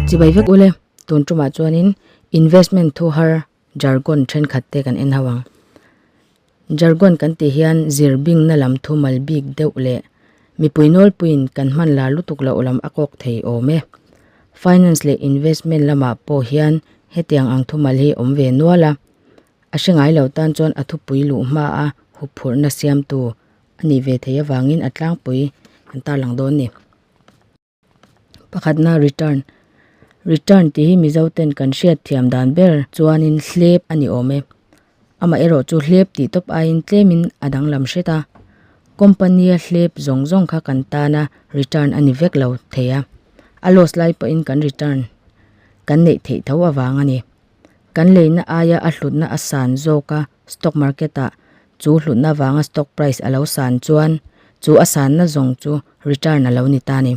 Chibai vek u le, tun tumah chuanin investment thu har jargon thenkhat te kan en ho ang. Jargon kan tih hian zir bingna lam thu mal bik deuh leh mipui nawl puiin kan hman la lutuk loh lam a kawk thei awm e. Finance leh investment lamah pawh hian hetiang ang thu mal hi awm ve nual a. A hre ngai lo tan chuan a thupui luh hma a hup phurhna siamtu a nih ve thei avangin a tlangpui an tarlang dawn a ni pakhatna return return tih hi mizo ten kan hriat thiam dan ber chuanin hlep a ni awm e amaherawh chu hlep tih tawp aiin tlemin a danglam hret a company a hlep zawng zawng kha kan tana return a ni vek lo thei a a loss lai pawhin kan return kan neih theih tho avang a ni. Kan leihna aia a hlutna a san zawk a, stock market ah chu hlutna vanga stock price a lo san chuan chu a sanna zawng chu return a lo ni ta ni.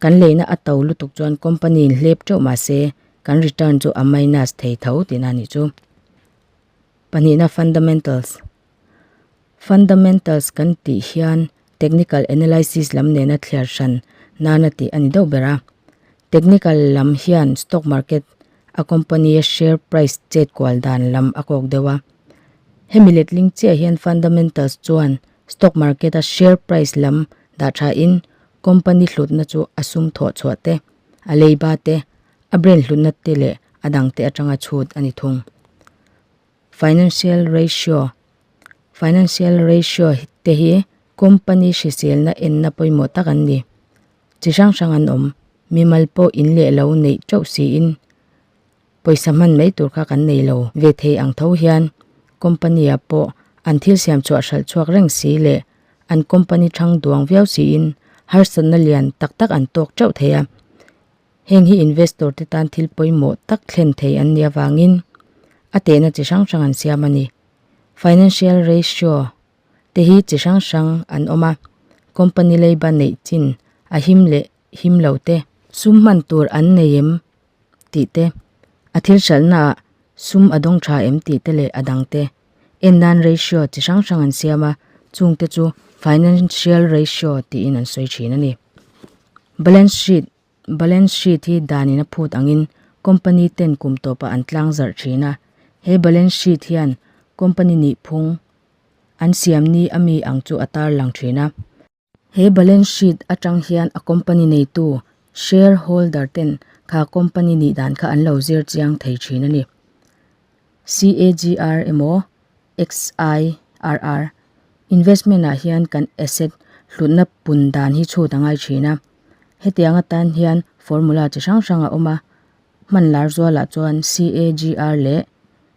Kan leihna a to lutuk chuan company in hlep teuh mah se kan return chu a minus thei tho tina ni chu. Pahnihna fundamentals. Fundamentals kan tih hian technical analysis lam nena thliar hran nana tih a ni deuh ber a. Technical lam hian stock market a company a share price chet kual dan lam a kawk deuh a. Hemi letling chiah hian fundamentals chuan stock market a share price lam dah tha in company hlutna chu a sum thawh chhuah te, a lei ba te, a brain hlutna te leh a dang te atanga chhut a ni thung. Financial Ratio, Financial Ratio, te hi company hriselna enna pawimawh tak an ni. Chi hrang hrang an awm. Mimal pawh in leh lo neih teuh siin pawisa hman mai tur kha kan nei lo ve thei ang tho hian company ah pawh an thil siamchhuah hralh chhuak reng si leh an company thang duang viau siin harsatna lian tak tak an tawk teuh thei a. Heng hi investor te tan thil pawimawh tak thlen thei an nih avangin a tehna chi hrang hrang an siam a ni. Financial ratio te hi chi hrang hrang an awm a, company leiba neih chin a him leh him lo te, sum hman tur an nei em tih te, a thil hralhnaah sum a dawng tha em tih te leh a dang te en nan ratio chi hrang hrang an siam a, chung te chu financial ratio tiin an sawi thin a ni. Balance sheet, Balance sheet hi dan in a phut ang in company ten kum tawp a an tlang zarh thin a, he balance sheet hian company nihphung an siam ni ami ang chu a tarlang thin a. He balance sheet atang hian a company neitu, share holder, ten kha company nih dan kha an lo zir chiang thei thin a ni. CAGR emaw XIRR investment ah hian kan asset hlutna pun dan hi chhut a ngai thin a. Hetiang atan hian formula chi hrang hrang a awm a, hman lar zual ah chuan CAGR leh.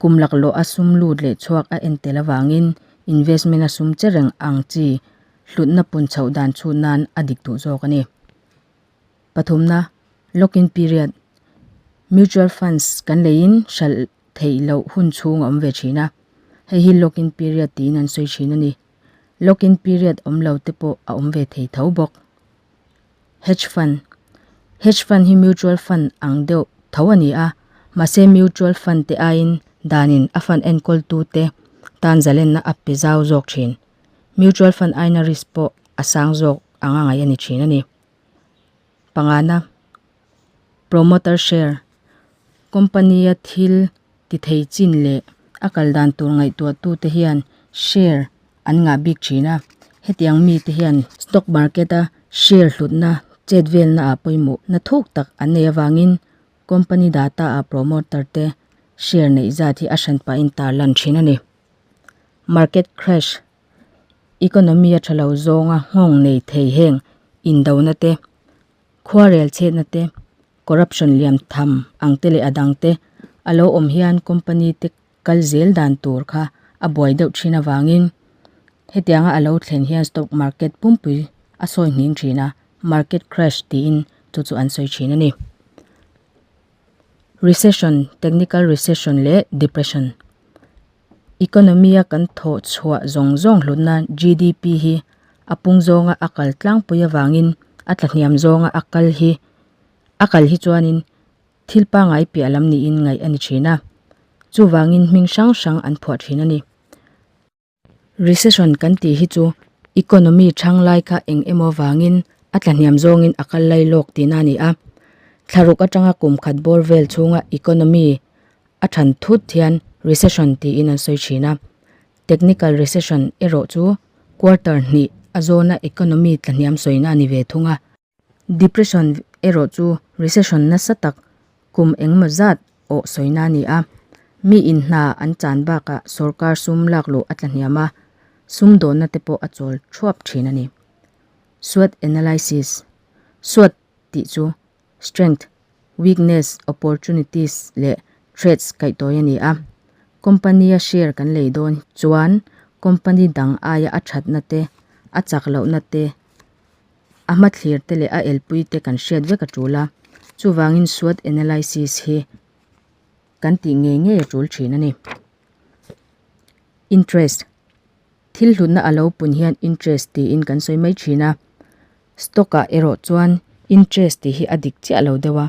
Kum laklawh a sum lut leh chhuak a en tel avangin investment a sum che reng ang chi hlutna punchhoh dan chhut nan a dik duh zawk a ni. Pathumna, Lock in period, Mutual funds kan leiin hralh theih loh hun chhung a awm ve thin a, hei hi lock in period tiin an sawi thin a ni. Lock in period awm lo te pawh a awm ve thei tho bawk. Hedge Fund, Hedge Fund hi mutual fund ang deuh tho a ni a, mahse mutual fund te aiin danin a fund enkawltute tan zalenna a pe zau zawk thin. Mutual fund aina risk pawh a sang zawk anga ngaih a ni thin a ni. Panga na. Promoter Share, Company a thil ti thei chin leh a kal dan tur ngaihtuahtu te hian share an ngah bik thin a. Hetiang mite hian stock market a share hlutna chetvelna ah pawimawh hna thuk tak an nei avangin company data ah promoter te share neih zat hi a hran pah in tar lan thin a ni. Market Crash, Economy a tha lo zawnga nghawng nei thei heng indona te, Khuarel chhetna te, corruption liam tham ang te leh a dang te a lo awm hian company te kal zel dan tur kha a buai deuh thin avangin hetianga a lo thlen hian stock market pumpui a sawihning thin a, market crash tiin chu chu an sawi thin a ni. Recession, technical recession leh depression. Economy-a kan thawh chhuah zawng zawng hlutna GDP hi a pung zawnga a kal tlangpui avangin a tla hniam zawnga a kal hi a kal hi chuanin thil pangai piah lam niin ngaih a ni thin a, chuvangin hming hrang hrang an phuah thin a ni. Recession kan tih hi chu economy chhang lai kha eng emaw avangin a tla hniam zawngin a kal lai lawk tihna a ni a, thlaruk atanga kum khat bawr vel chhunga economy A ṭhan thut hian recession tiin an sawi ṭhin a, technical recession erawh chu quarter hnih a zawna economy tlahniam sawina a ni ve thung a. Depression erawh chu recession nasa tak, kum engemaw zat awh sawina a ni a. Mi in hna an chan bakah sorkar sum lak luh a tlahniam a, sumdawnna te pawh a chawl ṭhuap ṭhin a ni. Swot analysis, Swot tih chu strengths, weaknesses, opportunities leh threats kaihtawi a ni a. Company a share kan lei dawn chuan company dang aia a thatna te, a chak lohna te, a hmathlir te leh a elpui te kan hriat vek a tul a. Chuvangin SWOT analysis hi kan tih ngei ngei a tul thin a ni. Interest. Thil hlutna a lo pun hian interest tiin kan sawi mai thin a. Stock ah erawh chuan interest tih hi a dik chiah lo deuh a,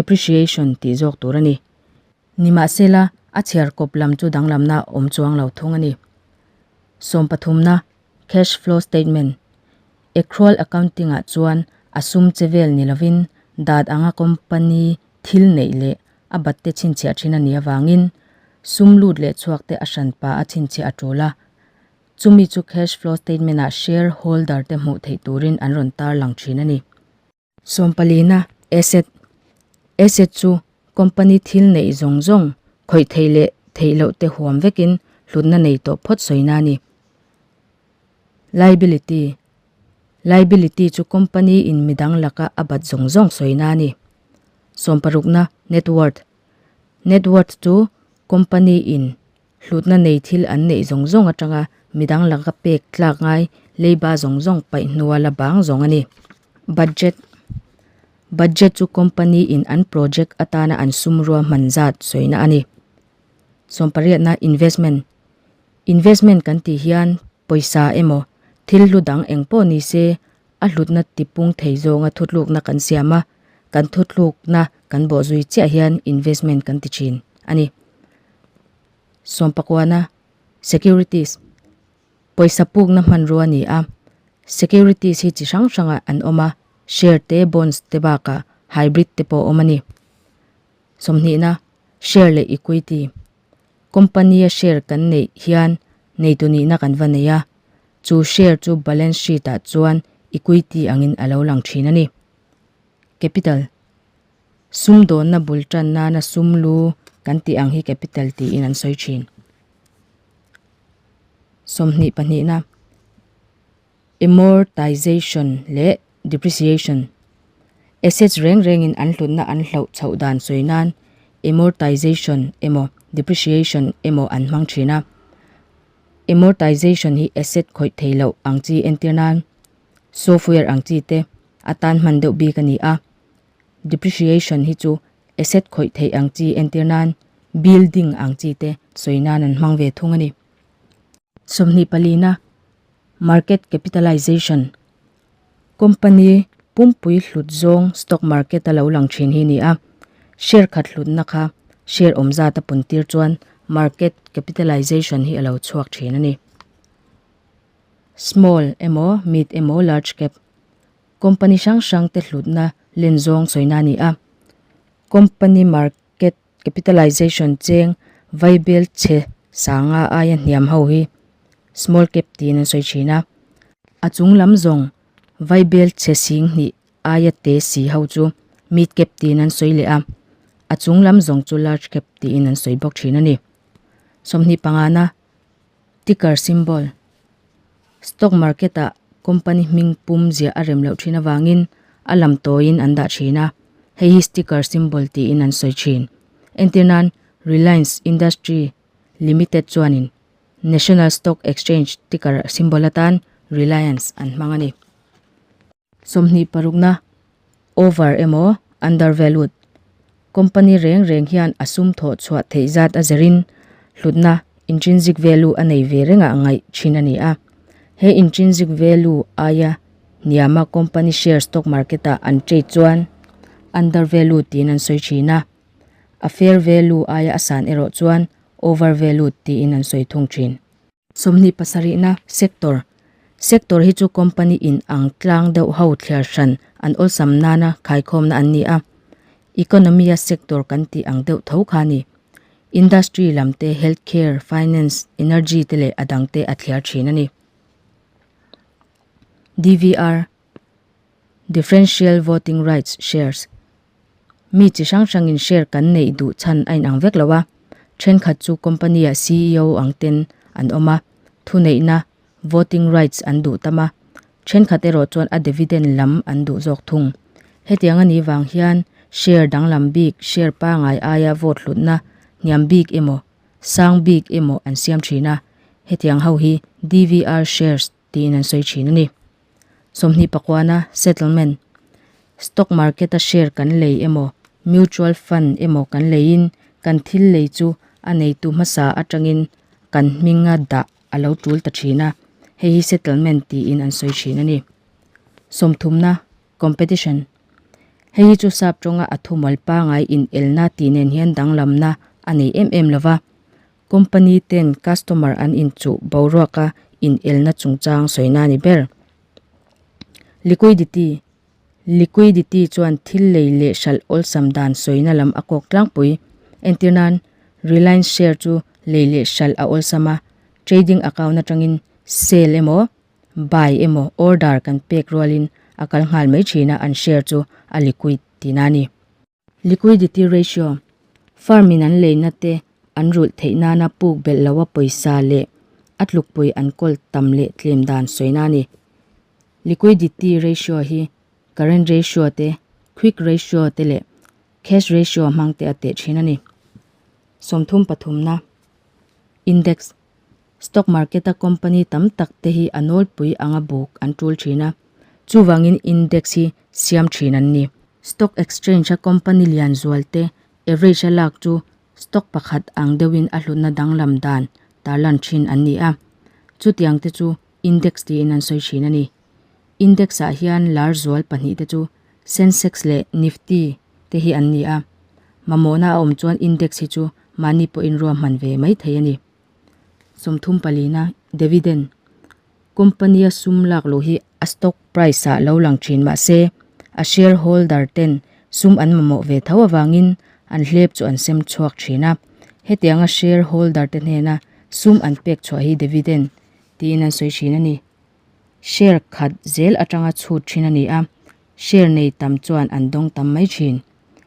appreciation tih zawk tur a ni. Nimahsela, a chhiar kawp lam chu danglamna a awm chuang lo thung a ni. Sawm pathumna, cash flow statement, Accrual accounting ah chuan a sum che vel ni lovin, dat anga company thil neih leh a batte chhinchhiah thin a nih avangin sum lut leh chhuak te a hran pa a chhinchhiah a tul a, chumi chu cash flow statement ah share holder te hmuh theih turin an rawn tar lang thin a ni. Sawmpalina, Asset, Asset chu company thil neih zawng zawng khawih theih leh theih loh te huam vekin hlutna nei tawh phawt sawina a ni. Liability, Liability chu company in midang laka a bat zawng zawng sawina a ni. Sawm parukna, Net worth, Net worth chu company in hlutna nei thil an neih zawng zawng atanga midang laka pek tlak ngai leiba zawng zawng paih hnuai la bang zawng a ni. Budget, Budget chu company in an project atana an sum ruahman zat sawina a ni. Sawm pariatna, Investment, Investment kan tih hian pawisa emaw thil hlu dang eng pawh ni se a hlutna tipung thei zawnga thutlukna kan siam a, kan thutlukna kan bawh zui chiah hian investment kan ti thin a ni. Sawmpakuana, Securities, pawisa pukna hmanrua a ni a, securities hi chi hrang hrangah an awm a, share te, bonds te bakah hybrid te pawh a awm a ni. Sawmhnihna, Share leh equity. Company a share kan neih hian neitu nihna kan va nei a, chu share chu balance sheet ah chuan equity angin a lo lang thin a ni. Capital, Sumdawnna bul tan nana sum lu kan tih ang hi capital tiin an sawi thin. Sawmhnih pahnihna. Amortization leh Depreciation, Assets reng rengin an hlutna an hloh chhoh dan sawi nan Amortization emaw Depreciation emaw an hmang thin a. Amortization hi Asset khawih thei loh ang chi entir nan Software ang chi te atan hman deuh bik a ni a. Depreciation hi chu Asset khawih thei ang chi entir nan Building ang chi te sawi nan an hmang ve thung a ni. Sawmhnih palina Market capitalization, company pumpui hlut zawng stock market a lo lang thin hi a ni a, share khat hlutna kha share awm zat a pun tir chuan market capitalization hi a lo chhuak thin a ni. Small emaw mid emaw large cap, company hrang hrang te hlutna len zawng chawina a ni a, company market capitalization cheng vai bel chhe sanga aia hniam ho hi small cap tiin an sawi thin a, a chung lam zawng vai bel chhe sing hnih aia te si ho chu mid cap tiin an sawi leh a, a chung lam zawng chu large cap tiin an sawi bawk thin a ni. Sawmhnih pangana Ticker symbol, Stock market ah company hming pum ziah a rem loh thin avangin a lam tawiin an dah thin a, hei hi sticker symbol tiin an sawi thin. Entir nan Reliance Industry Limited chuanin National Stock Exchange ticker symbol atan Reliance an hmang a ni. Sawmhnih parukna. over emaw undervalued company reng reng hian a sum thawh chhuah theih zat a zer in hlutna, intrinsic value, a nei ve rengah a ngaih thin a ni a. He intrinsic value aia hniama company share stock market ah an trade chuan undervalued tiin an sawi thin a, a fair value aia a san erawh chuan overvalued tiin an sawi thung thin. Sawmhnih pasarihna sector, Sector hi chu company in ang tlang deuh ho thliar hran an awlsam nana khaikhawmna an ni a. Economy a sector kan tih ang deuh tho kha a ni. Industry lam te, health care, finance, energy te leh a dang te a thliar thin a ni. DVR. Differential Voting Rights Shares Mi chi hrang hrangin share kan neih duh chhan a inang vek lo a. Thenkhat chu company-a CEO ang ten an awm a, thuneihna, voting rights, an duh tam a. Thenkhat erawh chuan a dividend lam an duh zawk thung. Hetiang a nih vang hian share danglam bik, share pangai aia vote hlutna hniam bik emaw, sang bik emaw an siam thin a. Hetiang ho hi DVR shares tiin an sawi thin a ni. Sawmhnih pakuana settlement, stock market-a share kan lei emaw, mutual fund emaw kan leiin kan thil lei chu a neitu hmasa atangin kan hming a dah a lo tul ta thin a, hei hi settlement tiin an sawi thin a ni. Sawmthumna, competition, hei hi chu sap tawnga a thumal pangai inelna tih nen hian danglamna a nei em em lo va, Company ten customer an inchuh boruak a inelna chungchang sawina a ni ber. Liquidity, Liquidity chuan thil lei leh hralh awlsam dan sawina lam a kawk tlangpui. Entir nan, Reliance share chu lei leh hralh a awlsam a, trading account atangin sell emaw buy emaw order kan pek rualin a kal nghal mai thin a, an share chu a liquid tina a ni. Liquidity Ratio, Firm in an leina te an rulh theih nana puk belh loha pawisa leh a tlukpui an kawl tam leh tlem dan sawina a ni. Liquidity Ratio hi Current Ratio te, Quick Ratio te leh Cash Ratio hmangte a teh thin a ni. Sawmthum pathumna, Index, Stock market a company tam tak te hi a nawlpui anga buk an tul thin a, chuvangin index hi siam thin an ni. Stock exchange a company lian zual te average a lak chu stock pakhat ang deuhin a hlutna danglam dan tarlan thin an ni a, chutiang te chu index tiin an sawi thin a ni. Index ah hian lar zual pahnih te chu Sensex leh Nifty te hi an ni a, mamawhna a awm chuan index hi chu mahni pawhin ruahman ve mai thei a ni. Sawmthum pali na, Dividend, company a sum lak loh hi a stock price ah lo lang thin mah se a share holder ten sum an mamawh ve tho avangin an hlep chu an sem chhuak thin a, hetiang a share holder te hnena sum an pek chhuah hi dividend tiin an sawi thin a ni. share khat zel atanga chhut thin a ni a, share nei tam chuan an dawng tam mai thin.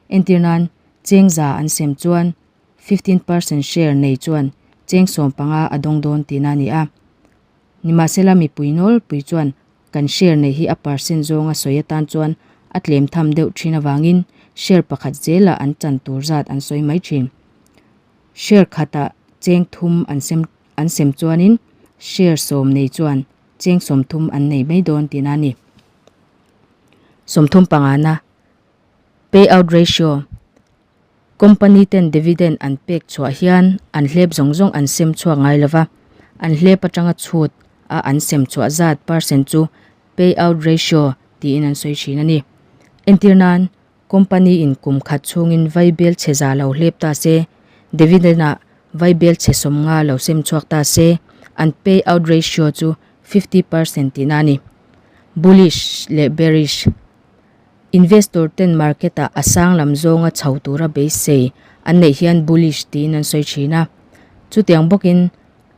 Entir nan, cheng za an sem chuan fifteen percent share nei chuan cheng sawm panga a dawng dawn tihna a ni a. Nimahsela mipui nawl pui chuan kan share nei hi a percent zawnga sawi atan chuan a tlem tham deuh thin avangin share pakhat zela an chan tur zat an sawi mai thin. Share khata cheng thum an sem. An sem chuanin share sawm nei chuan cheng sawmthum an nei mai dawn tiin a ni. Sawmthum pangana payout ratio, company ten dividend an pek chhuah hian an hlep zawng zawng an sem chhuak ngai lo va, an hlep atanga chhut a an sem chhuah zat percent chu payout ratio tiin an sawi thin a ni. Entir nan. Company in kum khat chhungin vai bel chhe za lo hlep ta se, dividend ah vai bel chhe sawm nga lo sem chhuak ta se, an pay out ratio chu fifty percent tihna a ni. Bullish leh bearish, Investor ten market ah a sang lam zawnga chho tura beisei an neih hian bullish tiin an sawi thin a. Chutiang bawkin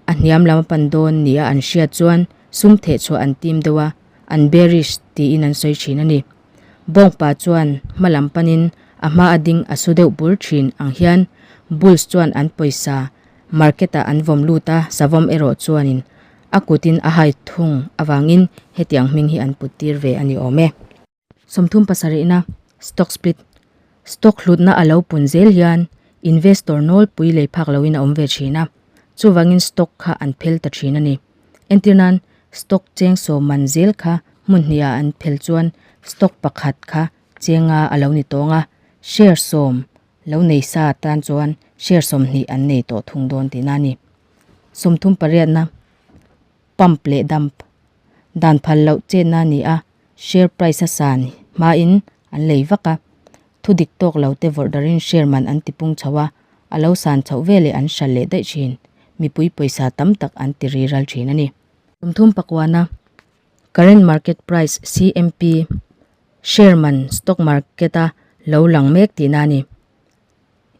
a hniam lama pan dawn nia an hriat chuan sum theh chhuah an tim deuh a, an bearish tiin an sawi thin a ni. Bawngpa chuan hmalam panin a hma a ding a su deuh bur thin ang hian Bulls chuan an pawisa Market-ah an vawm lut a, Savawm erawh chuanin a kutin a hai thung avangin hetiang hming hi an put tir ve a ni awm e. Sawmthum pasarihna, Stock Split, Stock hlutna a lo pun zel hian investor nawlpui lei phak loin a awm ve thin a, chuvangin stock kha an phel ta thin a ni. Entir nan, stock cheng sawm man zel kha hmunhniah an phel chuan stock pakhat kha chenga a lo ni tawng a, share sawm lo nei sa tan chuan share sawmhnih an nei tawh thung dawn tihna a ni. Sawmthum pariatna. pump leh dump dan phal loh chenna a ni a, share price a san hmain an lei vak a, thu dik tawk lo te vawrh darin share man an ti pung chho a, a lo san chhoh ve leh an hral leh daih thin, mipui pawisa tam tak an ti ri ral thin a ni. Kum thum pakuana current market price, CMP, share man stock market a lo lang mek tihna a ni.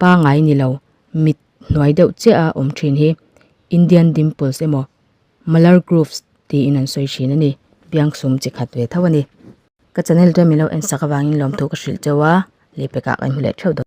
pangai ni lo mit hnuai deuh chiah a awm thin hi Indian dimples emaw malar grooves tiin an sawi thin a ni. Biang sum chi khat ve tho a ni. Ka channel ram ilo en sak avangin lawmthu ka hrilh chauh a, leh pekah kan hmu leh theuh dawn.